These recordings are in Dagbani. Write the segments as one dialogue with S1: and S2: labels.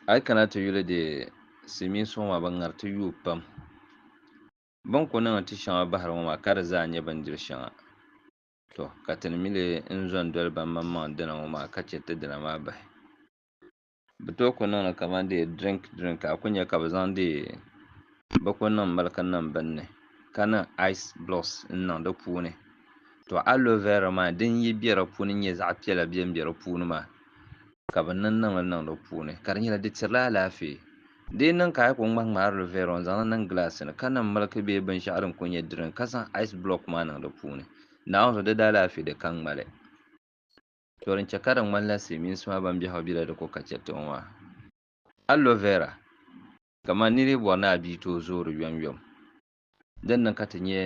S1: A yi kana ti yuli di silimiin suŋ maa bɛ ŋariti yuui pam. Bɛ ni ku niŋ ti shɛŋa bahiri ŋɔ maa ka di zaa nyɛ bindiri shɛŋa. Tɔ! Ka ti ni mi leei n-zo n-doli ban maŋmaŋ dina ŋɔ maa ka chɛ ti dina maa bahi. Bɛ tooi ku niŋ li kaman dee drink drink ka a ku nya ka bɛ zaŋ dee bɛ ku niŋ miliki n-niŋ bini ni ka niŋ ice blocks n-niŋ di puuni. Tɔ! Aloe vera maa din yi be di puuni nyɛ zaɣ piɛla bem be di puuni maa. ka bɛ niŋ niŋli niŋdi o puuni, ka di nyɛla di tirila alaafee. Di yi niŋ ka a yi kuli ŋmahiŋmaharili vɛri o n-zaŋli niŋ gilaasi ni, ka niŋ miliki bee binshɛɣu din kuli nyɛ dirin ka zaŋ ice block maa niŋ di puuni, Naawuni zuɣu di daa lahi fi di ka ŋmali. Tɔ din chɛ ka di ŋmanila Silimiinsi maa ban biɛhigu bela di ko ka chɛ tiŋ maa, Aloe vera, kamani nir yi bɔri ni a bia tooi zooi di yomyom. Din niŋ ka ti nyɛ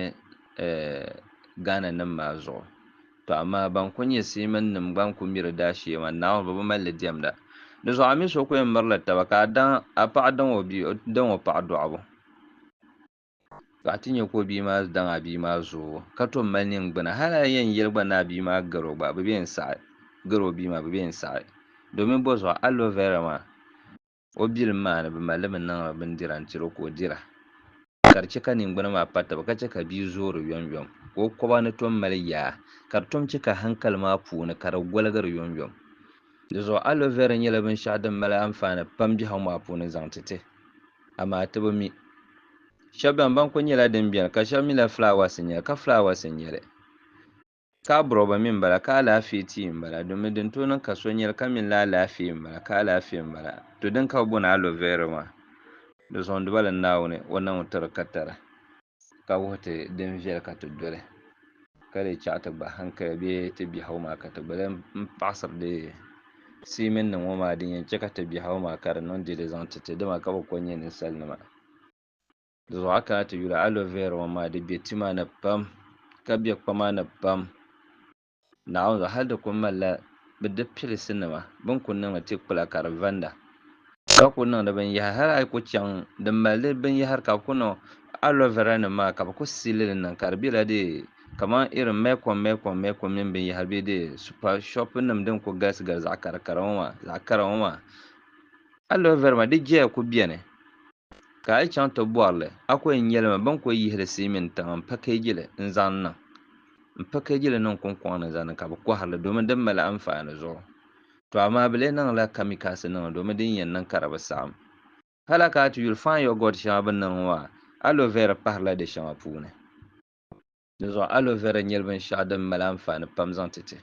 S1: Ghana nim maa zuɣu. Tɔ amaa ban ku nyɛ Seaman nim gba n-ku miri daa shee maa, Naawuni bi bi mali li diɛmda. Di zuɣu a mi so ku yɛn miri li taba ka a daŋ a paɣa daŋ o bia, o daŋ o paɣa dɔɣibu. Tɔ a ti nyɛ ka o bia maa daŋ a bia maa zoobu ka tom mali ningbuna. Hal a yɛn yɛli gba ni a bia maa gari o gba, bɛ bi yɛn saɣi, gari o bia maa bɛ bi yɛn saɣi. Domin bɔzuɣu aloe vera maa? o bilim maa ni bɛ mali li bɛ niŋla bindira n tiri o ka o dira ka di chɛ ka ningbuna maa pa taba ka chɛ ka bia zoori yomyom ka o koba ni tom mali yaa ka di tom chɛ ka hankali maa puuni ka di goligiri yomyom. Dizuɣu aloe vera nyɛla binshɛɣu din mali anfaani pam biɛhigu maa puuni n-zaŋ ti ti, amaa ti bi mi. Shɛba bɛn banku nyɛla din beni ka shɛba mi la flaawaasi n-nyɛ li, ka flaawaasi n-nyɛ li. Ka abɔrɔba mi m-bala, ka alaafee ti yi m-bala, domi din tooi niŋ ka so nyɛli ka mini li alaafee m-bala, ka alaafee m-bala. To din ka bɛ bɔni aloe vera maa, di zuɣundi ba li Naawuni o naŋ ti di ka tara, ka wuhi ti din viɛli ka ti doli, ka lee chaɣi ti gba hankaya bee ti biɛhigu maa ka ti gba lan paɣisiri di siimiŋ ni ŋɔ maa, din yɛn chɛ ka ti biɛhigu maa ka di niŋ dili zaŋ ti ti dima ka bɛ kɔŋ nyɛ ninsalinima. Di zuɣu a kana ti yuli aloe vera ŋɔ maa di be tima ni pam ka be kpama ni pam Naawuni zuɣu hali di kuli malila bɛ di pilisi nima bini kuli niŋdi ti kpula ka di vanda ka kuli niŋdi binyahari hali a yi kuli chaŋ din mali di binyahari ka bɛ kuli niŋ aloe vera nima maa ka bɛ kuli siili li niŋ ka di bela di kaman irin mɛkom mɛkom mɛkom mini binyahari be di super shopi nima din kuli galisi galisi zaɣa kara kara ŋɔ maa zaɣa kara ŋɔ maa aloe vera maa di jeya kuli beni. Ka a yi chaŋ ti bɔri li, a ko yi nyɛli ma bɛn ko yihi li sii mini tiŋa m-pakeeji li n-zaŋ niŋ m-pakeeji li niŋ kuŋkɔŋ ni zaŋ ni ka bɛ kɔhiri li domin di mali anfaani zuɣu. Tɔ amaa bɛ lee niŋla kamikaasi niŋ li domin din yɛn niŋ ka di bi saɣim. Hala ka a ti yuli fine yogurt shɛŋa bɛ niŋ ŋɔ a, aloe vera pahirila di shɛŋa puuni. Dinzuɣu aloe vera nyɛla binshɛɣu din mali anfaani pam zaŋ ti ti.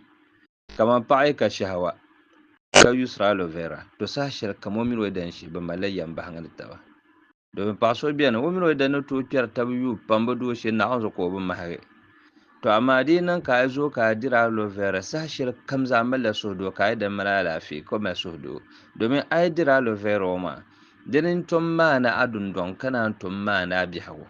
S1: Kamani paɣa yi ka shɛhawa ka yuusiri aloe vera, to saha shɛli kam o mini o yidana shee bɛ malila yɛmbahiŋ ni taba. Domin paɣa so beni, o mini o yidana ni tooi kpɛri taba yuui pam bɛ doo shee naɣiŋ zuɣu ka o bi mahigi. To amaa di yi niŋ ka a zooi ka a diri aloe vera, saha shɛli kam zaa a malila suhudoo ka a yidana mali alaafee ka o mali suhudoo. Domin a yi diri aloe vera o maŋa, dini n-tom maani a dundɔŋ ka naan tom maani a biɛhigu.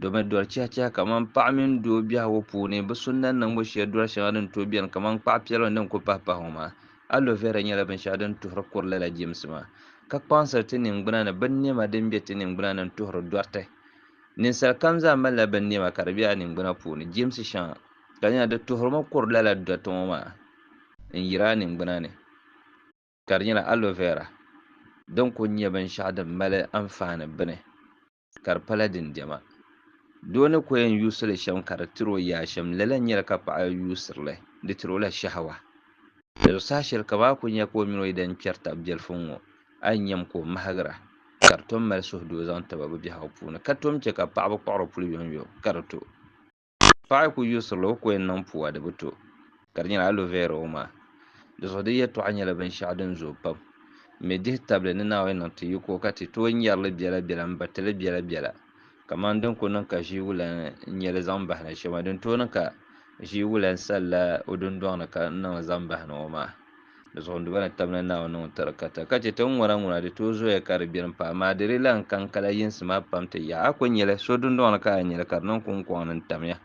S1: Domi doli chɛhichɛhi kamani paɣa mini doo biɛhigu puuni bi sunna niŋbu shee doli shɛŋa din tooi biɛni kamani kpaɣu piɛlim din ku pahi pahi ŋɔ maa. Aloe vera nyɛla binshɛɣu din tuhiri kuri lala jɛmsi maa, ka kpaŋsiri ti ningbuna ni binnɛma din be ti ningbuna ni n-tuhiri dɔriti. Ninsal kam zaa malila binnɛma ka di be a ningbuna puuni, jɛmsi shɛŋa, ka nyɛla di tuhirimi kuri lala dɔriti ŋɔ maa n-yiri a ningbuna ni, ka di nyɛla aloe vera din kuli nyɛ binshɛɣu din mali anfaani bini. ka di pala din diɛma. Doo ni ko yɛn yuusili shɛm ka di tiri o yaa shɛm, lala n-nyɛli ka paɣa yuusiri li, di tiri o la shahawa. Di saha shɛli ka baa kul nya ka o mini o yidana kpɛri tab biɛlifuŋ ŋɔ, a yi nyam ka o mahigira, ka di tom mali suhudoo zaŋ ti ba bɛ biɛhigu puuni, ka tom chɛ ka paɣaba kpuɣiri puli yomyom ka di to. paɣa ku yuusirila o ni ku yɛn niŋ puu a di bi to ka di nyɛla alo vɛra o maŋa di zuɣu di yɛltɔɣa nyɛla binshɛɣu din zooi pam n mi dihi tabili ni naawuni niŋ ti yiko ka ti tooi nyɛrili biɛla biɛla n batili biɛla biɛla kamani din ku niŋ ka ʒii wulan n nyɛ li zaŋ bahi na shɛm din tooi niŋ ka ʒii wulan salila o dundɔŋ ni ka n niŋ li zaŋ bahi na ŋɔ maa Di zuɣu n duba ni tabina Naawuni ni ŋun tiri kata ka chɛ ti ŋuna ŋuna di tooi zoya ka di biɛri m-pahi maa di di lan kan kala yinsi maa pam ti yaɣi. A ku nya li, so dundɔŋ ni ka a nya li ka di niŋ kuŋkɔŋ ni n-tamya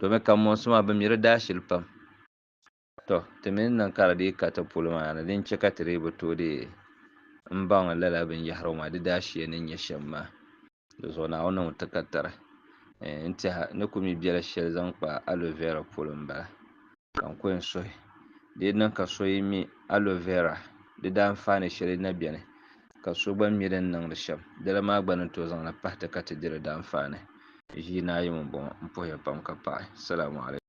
S1: domi kanmɔnsi maa bɛ mi di daashili pam. Tɔ! Ti mi ni niŋ ka di dii ka ti polo maa ni din chɛ ka ti dii bi tooi deei m-baŋ lala binyɛhirigu maa di daashia ni nyɛ shɛm maa. Dizuɣu Naawuni niŋ takatari n tɛha ni ku mi bɛla shɛli zaŋ kpa aloe vera polo n bala ka n kɔŋ suhi di yi niŋ ka so yi mi aloe vera di daanfaani shɛli na bɛni ka so gba mi din niŋdi shɛm dala maa gba ni tooi zaŋli pahi ti ka ti di di daanfaani ʒii ni ayi ŋɔ m bɔŋɔ m puhiya pam ka paɣi salaamu alaikum.